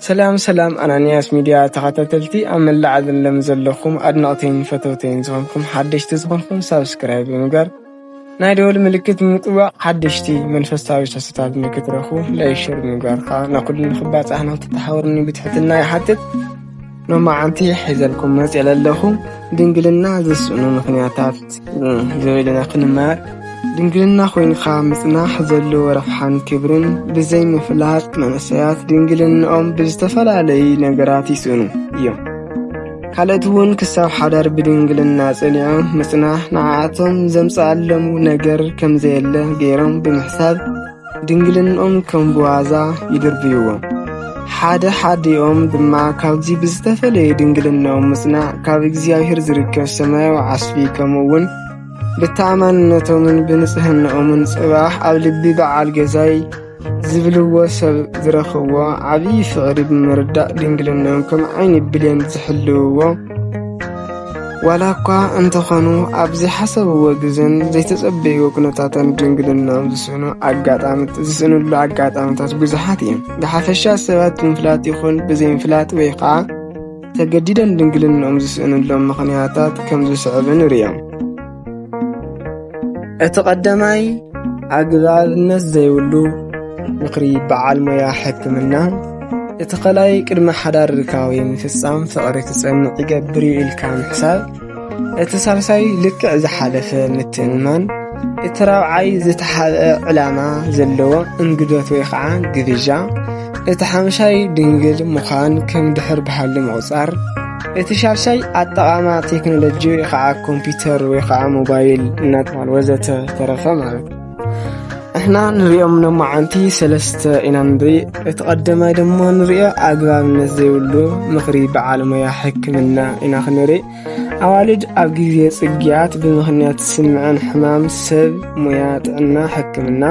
ሰላም ሰላም ኣናንያስ ሚድያ ተኸታተልቲ ኣብ መላእ ዓለም ዘለኹም ኣድነቕተይን ፈተውተይን ዝኾንኩም ሓደሽቲ ዝኾንኩም ሳብስክራይብ ብምግባር ናይ ደወል ምልክት ብምጥዋቕ ሓደሽቲ መንፈሳዊ ሰስታት ንክትረኹ ለይሽር ምግባር ከዓ ንኹሉ ንክባፃሕ ንክትተሓወርኒ ብትሕትና ይሓትት ሎማዓንቲ ሒዘልኩም መፅ የለለኹ ድንግልና ዘስእኑ ምኽንያታት ዝበለና ክንማር ድንግልና ኮይንካ ምፅናሕ ዘለዎ ረብሓን ክብርን ብዘይ ምፍላጥ መንእሰያት ድንግልንኦም ብዝተፈላለዩ ነገራት ይስእኑ እዮም። ካልእቲ እውን ክሳብ ሓዳር ብድንግልና ጸኒዖም ምጽናሕ ንዓኣቶም ዘምጽኣሎም ነገር ከም ዘየለ ገይሮም ብምሕሳብ ድንግልንኦም ከም ብዋዛ ይድርብይዎ። ሓደ ሓዲኦም ድማ ካብዚ ብዝተፈለየ ድንግልናኦም ምጽናዕ ካብ እግዚኣብሔር ዝርከብ ሰማያዊ ዓስቢ ከምኡ እውን ብተኣማንነቶምን ብንጽህንኦምን ጽባሕ ኣብ ልቢ በዓል ገዛይ ዝብልዎ ሰብ ዝረኽብዎ ዓብዪ ፍቕሪ ብምርዳእ ድንግልንኦም ከም ዓይኒ ብሌን ዝሕልውዎ ዋላ እኳ እንተኾኑ ኣብ ዘይሓሰብዎ ግዘን ዘይተጸበይዎ ኩነታትን ድንግልንኦም ዝስእኑ ኣጋጣምት ዝስእንሉ ኣጋጣምታት ብዙሓት እዮም። ብሓፈሻ ሰባት ብምፍላጥ ይኹን ብዘይምፍላጥ ወይ ኸዓ ተገዲደን ድንግልንኦም ዝስእንሎም ምኽንያታት ከም ዝስዕብ ንርዮም። እቲ ቐዳማይ ኣግባብነት ዘይብሉ ምኽሪ በዓል ሞያ ሕክምና፣ እቲ ኸላይ ቅድሚ ሓዳር ርካዊ ምፍጻም ፍቕሪ ክጸንዕ ይገብር ኢልካ ምሕሳብ፣ እቲ ሳልሳይ ልክዕ ዝሓለፈ ምትእምማን እቲ ራብዓይ ዝተሓብአ ዕላማ ዘለዎ እንግዶት ወይ ኸዓ ግብዣ እቲ ሓምሻይ ድንግል ምዃን ከም ድሕር ብሃሊ ምቝጻር እቲ ሻድሻይ ኣጠቓማ ቴክኖሎጂ ወይ ኸዓ ኮምፒተር ወይ ኸዓ ሞባይል እናተባህለ ወዘተ ተረፈ ማለት እዩ። ንሕና ንሪኦም ሎማዓንቲ ሰለስተ ኢና ንርኢ እቲ ቀዳማይ ድማ ንሪኦ ኣግባብነት ዘይብሉ ምኽሪ በዓል ሞያ ሕክምና ኢና ክንርኢ ኣዋልድ ኣብ ግዜ ጽግያት ብምኽንያት ስምዐን ሕማም ሰብ ሞያ ጥዕና ሕክምና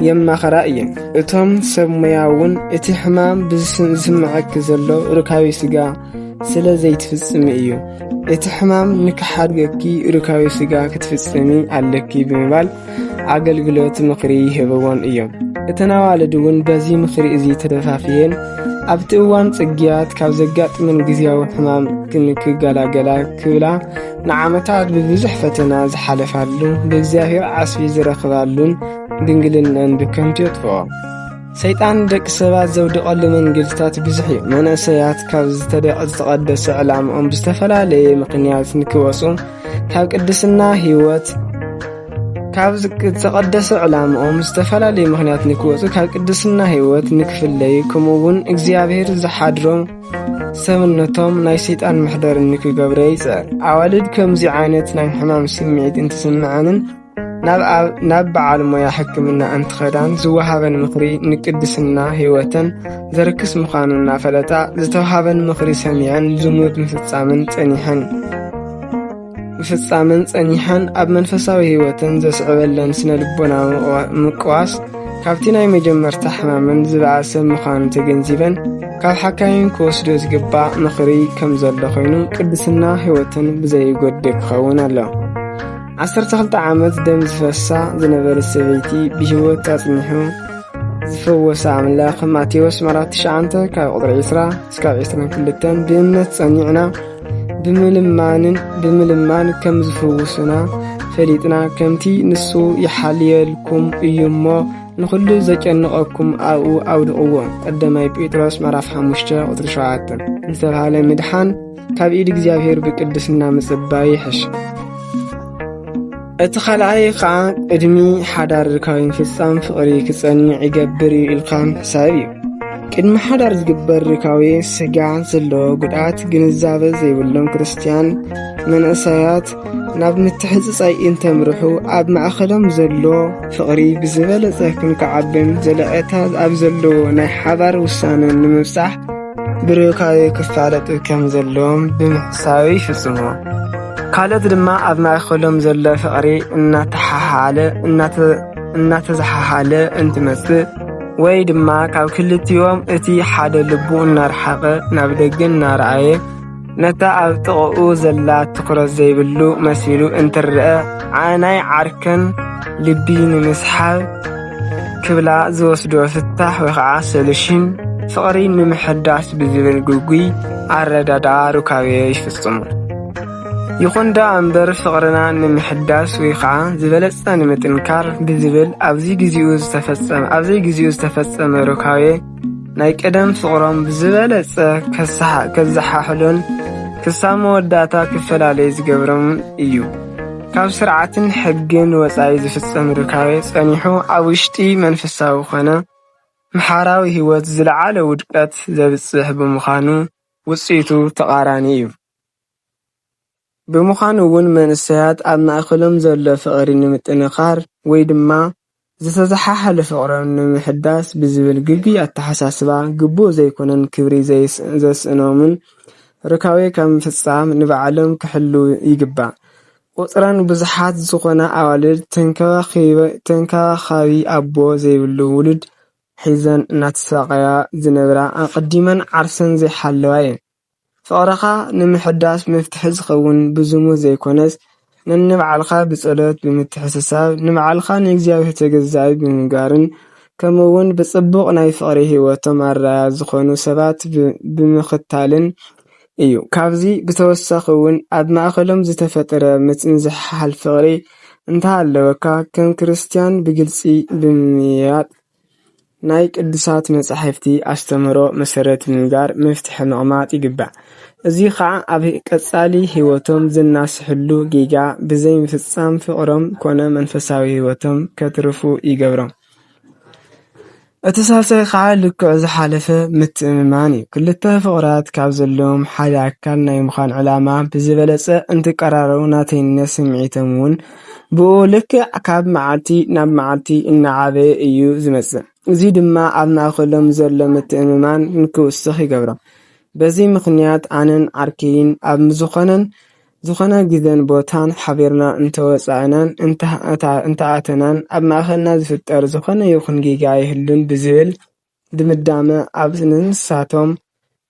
የማኸራ እየን እቶም ሰብ ሞያ እውን እቲ ሕማም ዝስምዐኪ ዘሎ ርካቤ ስጋ ስለ ዘይትፍጽሚ እዩ እቲ ሕማም ንክሓድገኪ ርካዊ ስጋ ክትፍጽሚ ኣለኪ ብምባል ኣገልግሎት ምኽሪ ይህብዎን እዮም እተን ኣዋልድ እውን በዚ ምኽሪ እዚ ተደፋፍየን ኣብቲ እዋን ጽግያት ካብ ዘጋጥምን ግዜያዊ ሕማም ክንክገላገላ ክብላ ንዓመታት ብብዙሕ ፈተና ዝሓለፋሉ ብእግዚኣብሔር ዓስቢ ዝረኽባሉን ድንግልነን ብከንቱ የጥፍኦ ሰይጣን ንደቂ ሰባት ዘውድቐሉ መንገድታት ብዙሕ እዩ። መንእሰያት ካብ ዝተደቀ ዝተቐደሰ ዕላምኦም ብዝተፈላለየ ምኽንያት ንክወፁ ካብ ቅድስና ህይወት ካብ ዝተቐደሰ ዕላምኦም ዝተፈላለዩ ምኽንያት ንክወፁ ካብ ቅድስና ህይወት ንክፍለዩ ከምኡ እውን እግዚኣብሔር ዝሓድሮም ሰብነቶም ናይ ሰይጣን መሕደሪ ንክገብረ ይፅዕር። ኣዋልድ ከምዚ ዓይነት ናይ ሕማም ስምዒት እንትስምዐንን ናብ በዓል ሞያ ሕክምና እንትኸዳን ዝወሃበን ምኽሪ ንቅድስና ህይወተን ዘርክስ ምዃኑ እናፈለጣ ዝተውሃበን ምኽሪ ሰሚዐን ዝሙት ምፍጻምን ጸኒሐን ምፍጻምን ጸኒሐን ኣብ መንፈሳዊ ህይወተን ዘስዕበለን ስነ ልቦናዊ ምቅዋስ ካብቲ ናይ መጀመርታ ሕማመን ዝበኣሰ ምዃኑ ተገንዚበን ካብ ሓካይም ክወስዶ ዝግባእ ምኽሪ ከም ዘሎ ኮይኑ ቅድስና ህይወትን ብዘይጎድእ ክኸውን ኣሎ ዓሰርተ ክልተ ዓመት ደም ዝፈሳ ዝነበረ ሰበይቲ ብህይወት ኣጽኒሑ ዝፈወሰ ኣምላኽ ማቴዎስ ምዕራፍ ትሽዓንተ ካብ ቁጥሪ ዕስራ እስካብ ዕስራን ክልተን ብእምነት ጸኒዕና ብምልማንን ብምልማን ከም ዝፍውሱና ፈሊጥና ከምቲ ንሱ ይሓልየልኩም እዩ እሞ ንዅሉ ዘጨንቐኩም ኣብኡ ኣውድቕዎ ቀዳማይ ጴጥሮስ ምዕራፍ ሓሙሽተ ቁጥሪ ሸውዓተ ዝተብሃለ ምድሓን ካብ ኢድ እግዚኣብሔር ብቅድስና ምጽባይ ይሕሽ። እቲ ኻልኣይ ኸዓ ቅድሚ ሓዳር ርካዊ ምፍጻም ፍቕሪ ክጸንዕ ይገብር እዩ ኢልካ ምሕሳብ እዩ። ቅድሚ ሓዳር ዝግበር ርካዊ ስጋ ዘለዎ ጉድኣት ግንዛበ ዘይብሎም ክርስትያን መንእሰያት ናብ ምትሕጽጻይ እንተምርሑ ኣብ ማእኸሎም ዘሎ ፍቕሪ ብዝበለጸ ክንክዓብን ዘለቐታ ኣብ ዘለዎ ናይ ሓባር ውሳነ ንምብጻሕ ብርካቤ ክፋለጥ ከም ዘለዎም ብምሕሳብ ይፍጽሞ። ካልኦት ድማ ኣብ ማእከሎም ዘሎ ፍቕሪ እናተሓሓለ እናተዘሓሓለ እንትመጽእ ወይ ድማ ካብ ክልቲኦም እቲ ሓደ ልቡ እናረሓቐ ናብ ደገ እናረኣየ። ነታ ኣብ ጥቕኡ ዘላ ትኹረት ዘይብሉ መሲሉ እንትርአ ናይ ዓርከን ልቢ ንምስሓብ ክብላ ዝወስዶ ፍታሕ ወይ ኸዓ ሶሉሽን ፍቕሪ ንምሕዳስ ብዝብል ግጉይ ኣረዳድኣ ሩካቤ ይፍጽሙ። ይኹን ደኣ እምበር ፍቕርና ንምሕዳስ ወይ ከዓ ዝበለጸ ንምጥንካር ብዝብል ኣብዚ ግዜኡ ዝተፈጸመ ኣብዚ ግዜኡ ዝተፈጸመ ሩካቤ ናይ ቀደም ፍቕሮም ብዝበለጸ ከዘሓሕሉን ክሳብ መወዳእታ ክፈላለዩ ዝገብሮም እዩ። ካብ ስርዓትን ሕግን ወጻኢ ዝፍጸም ርካበ ጸኒሑ ኣብ ውሽጢ መንፈሳዊ ኮነ ምሓራዊ ህይወት ዝለዓለ ውድቀት ዘብጽሕ ብምዃኑ ውጽኢቱ ተቓራኒ እዩ። ብምዃኑ እውን መንእሰያት ኣብ ማእከሎም ዘሎ ፍቕሪ ንምጥንኻር ወይ ድማ ዝተዘሓሓለ ፍቕሮም ንምሕዳስ ብዝብል ግጉ ኣተሓሳስባ ግቡእ ዘይኮነ ክብሪ ዘስእኖምን ሩካቤ ካብ ምፍፃም ንባዕሎም ክሕልው ይግባእ። ቁፅረን ብዙሓት ዝኾና ኣዋልድ ተንከባኻቢ ኣቦ ዘይብሉ ውሉድ ሒዘን እናተሳቐያ ዝነብራ ኣቐዲመን ዓርሰን ዘይሓለዋ እየን። ፍቕርኻ ንምሕዳስ መፍትሒ ዝኸውን ብዝሙት ዘይኮነስ ነንባዕልኻ ብጸሎት ብምትሕስሳብ ንባዕልኻ ንእግዚኣብሄር ተገዛኢ ብምንባርን ከምኡ ውን ብጽቡቕ ናይ ፍቕሪ ሂወቶም ኣረኣእያ ዝኾኑ ሰባት ብምኽታልን እዩ። ካብዚ ብተወሳኺ ውን ኣብ ማእከሎም ዝተፈጥረ ምጽንዛሕ ፍቕሪ እንተሃለወካ ከም ክርስትያን ብግልጺ ብምምይያጥ ናይ ቅዱሳት መጻሕፍቲ ኣስተምህሮ መሰረት ብምግባር መፍትሒ ምቕማጥ ይግባእ። እዚ ኸኣ ኣብ ቀጻሊ ህይወቶም ዘናስሕሉ ጌጋ ብዘይ ምፍጻም ፍቕሮም ኮነ መንፈሳዊ ህይወቶም ከትርፉ ይገብሮም። እቲ ሳልሳይ ኸኣ ልክዕ ዝሓለፈ ምትእምማን እዩ። ክልተ ፍቑራት ካብ ዘለዎም ሓደ ኣካል ናይ ምዃን ዕላማ ብዝበለጸ እንትቀራረቡ ናተይነት ስምዒቶም'ውን። ብኡ ልክዕ ካብ መዓልቲ ናብ መዓልቲ እናዓበየ እዩ ዝመጽእ። እዚ ድማ ኣብ ማእከሎም ዘሎ ምትእምማን ንክውስኽ ይገብሮ። በዚ ምኽንያት ኣነን ዓርከይን ኣብ ዝኾነን ዝኾነ ግዘን ቦታን ሓቢርና እንተወጻእናን እንተኣተናን ኣብ ማእከልና ዝፍጠር ዝኾነ ይኹን ጌጋ ኣይህሉን ብዝብል ድምዳመ ኣብ ንሳቶም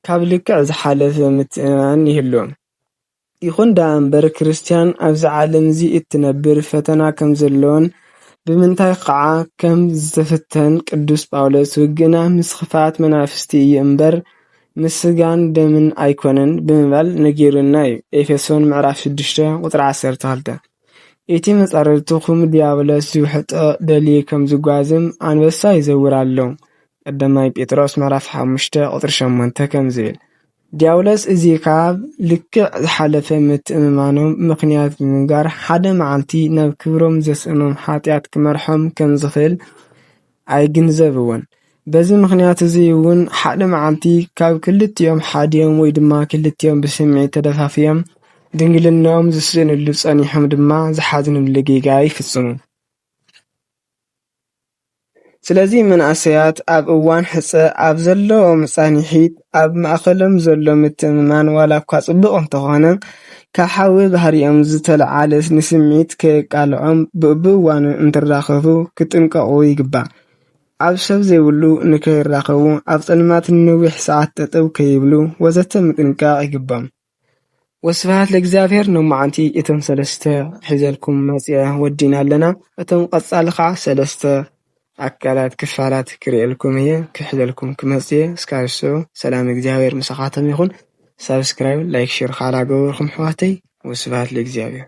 ካብ ልክዕ ዝሓለፈ ምትእምማን ይህልዎም። ይኹን ደኣ እምበር ክርስትያን ኣብዚ ዓለም እዚ እትነብር ፈተና ከም ዘሎን ብምንታይ ኸኣ ከም ዝተፈተን ቅዱስ ጳውሎስ ውግእና ምስ ኽፍኣት መናፍስቲ እዩ እምበር ምስ ስጋን ደምን ኣይኮነን ብምባል ነጊሩና እዩ ኤፌሶን ምዕራፍ ሽዱሽተ ቁጽሪ ዓሰርተ ክልተ እቲ መጻርርትኹም ድያብሎስ ዝውሕጦ ደልዩ ከም ዝጓዝም ኣንበሳ ይዘውር ኣሎ ቀዳማይ ጴጥሮስ ምዕራፍ ሓሙሽተ ቁጽሪ ሸሞንተ ከም ዝብል ዲያብሎስ እዚ ኻብ ልክዕ ዝሓለፈ ምትእምማኖም ምኽንያት ብምንጋር፣ ሓደ መዓልቲ ናብ ክብሮም ዘስእኖም ሓጢኣት ኪመርሖም ከም ዚኽእል ኣይግንዘብዎን። በዚ ምኽንያት እዚ እውን ሓደ መዓልቲ ካብ ክልቲኦም ሓዲኦም ወይ ድማ ክልቲኦም ብስምዒት ተደፋፊኦም ድንግልንኦም ዝስእንሉ ጸኒሖም ድማ ዝሓዝንሉ ጌጋ ይፍጽሙ። ስለዚ መንእሰያት ኣብ እዋን ሕጸ ኣብ ዘለዎም ጻንሒት ኣብ ማእከሎም ዘሎ ምትእምማን ዋላ እኳ ጽቡቕ እንተኾነ ካብ ሓዊ ባህሪኦም ዝተለዓለ ንስምዒት ከየቃልዖም በብእዋኑ እንትራኸቡ ክጥንቀቑ ይግባእ። ኣብ ሰብ ዘይብሉ ንከይራኸቡ ኣብ ጸልማት ንነዊሕ ሰዓት ጠጠው ከይብሉ ወዘተ ምጥንቃቕ ይግብኦም። ወስብሃት ለእግዚኣብሔር ሎማዓንቲ እቶም ሰለስተ ሒዘልኩም መፅየ ወዲእና ኣለና እቶም ቀፃሊ ከዓ ሰለስተ ኣካላት ክፋላት ክሪኤልኩም እየ ክሕዘልኩም ክመፅእ እየ እስካብ ንሱ ሰላም እግዚኣብሔር ምሳካትኩም ይኩን ሳብስክራይብ ላይክ ሸር ካዓ ዳገበርኩም ኣሕዋተይ ወስብሃት ለእግዚኣብሔር።